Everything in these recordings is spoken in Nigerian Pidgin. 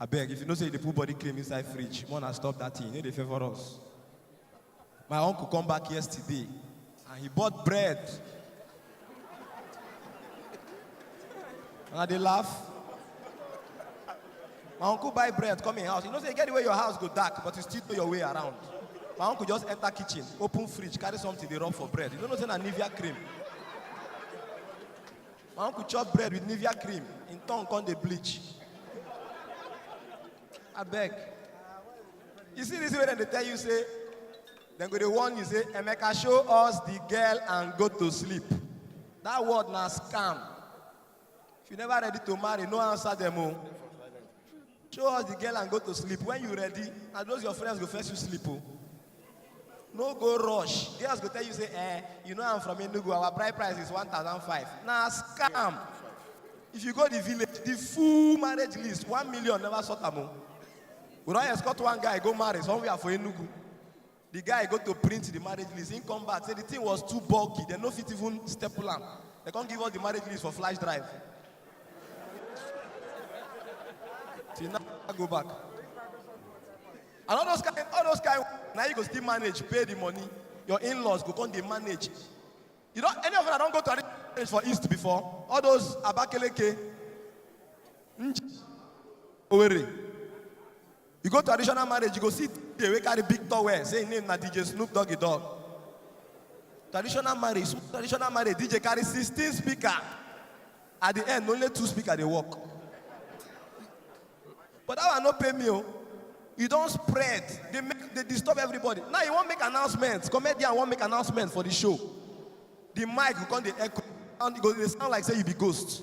abeg if you know say you dey put body cream inside fridge more na stop that thing you no dey favour us my uncle come back yesterday and he bought bread and i dey laugh my uncle buy bread come him house you know say e get the way your house go dark but you still know your way around my uncle just enter kitchen open fridge carry something dey rub for bread you no know say na nivea cream My uncle chop bread with Nivea cream, in tongue come dey bleach. Abeg. You see this way dem dey tell you say, dem go dey warn you say, Emeka show us the girl and go to sleep. That word na scam. If you never ready to marry, no answer dem o. Show us the girl and go to sleep. When you ready, and those your friends go first you sleep. Oh. No go rush. Girls go tell you, say, eh, you know I'm from Enugu, our bride price is 1,005. Now scam. If you go the village, the full marriage list, one million never sort them. Oh. We don't escort one guy, go marry somewhere for Enugu. The guy go to print the marriage list. He come back, say the thing was too bulky. They no fit even staple am. They can't give us the marriage list for flash drive. Till now, I go back. And all those kind, all those kind, now you go still manage, pay the money. Your in-laws go come they manage. You know, any of them I don't go to arrange marriage for East before. All those Abakeleke, Nj- Owerri, You go traditional marriage, you go see the way carry big towel, say him name na DJ Snoop Doggy Dog. Traditional marriage, so traditional marriage, DJ carry 16 speaker. At the end, only two speaker dey work. But that one no pay me o. You don spread, dey make dey disturb everybody. Now you wan make announcement, comedian wan make announcement for the show. The mic go come dey echo and e go dey sound like say you be ghost.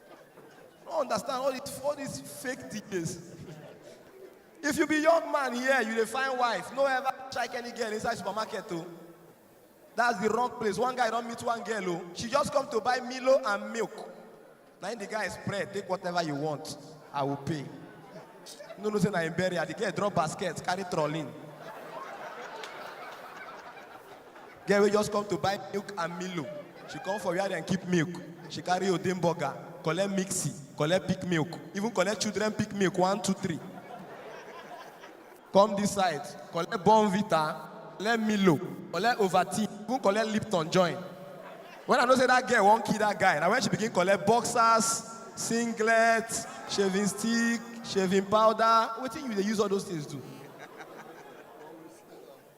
I don't understand all these, all these fake DJs. if you be young man here, you dey find wife. No ever strike any girl inside supermarket too. That's the wrong place. One guy don't meet one girl. Oh. She just come to buy Milo and milk. Now the guy is spread. Take whatever you want. I will pay. No, no, say na him bury her. The girl drop basket, carry trolley. Girl wey just come to buy milk and milo. She come for where dem keep milk. She carry odin burger, collect mixi, collect pick milk, even collect children pick milk one, two, three. Come this side, collect Bonvita, collect milo, collect Ovaltine, even collect Lipton join. When I know say that girl wan kill that guy, na when she begin collect boxers, singlet, shaving stick, shaving powder. Wetin you dey use all those things do?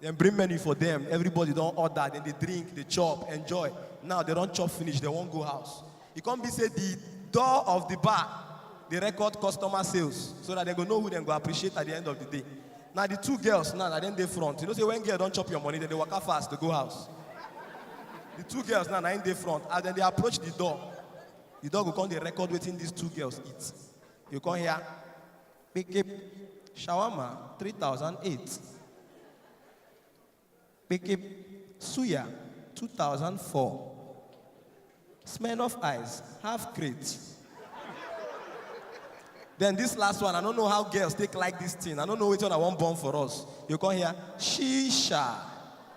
Dem bring menu for dem, everybody don order, dem dey drink, dey chop, enjoy. Now dem don chop finish, dem wan go house. E come be say the door of the bar dey record customer sales so that dem go know who dem go appreciate at the end of the day. Na the two girls now, na dem dey front. You know say when girl don chop your money, dem dey waka fast to go house. The two girls now, na im dey front. As dem dey approach the door, the door go come dey record wetin these two girls eat. You come hear, Bikip Shawarma 3008. Bikip Suya 2004. Smirnoff Ice, half crate. Then this last one, I don't know how girls take like this thing. I don't know which one I want born for us. You come here, shisha.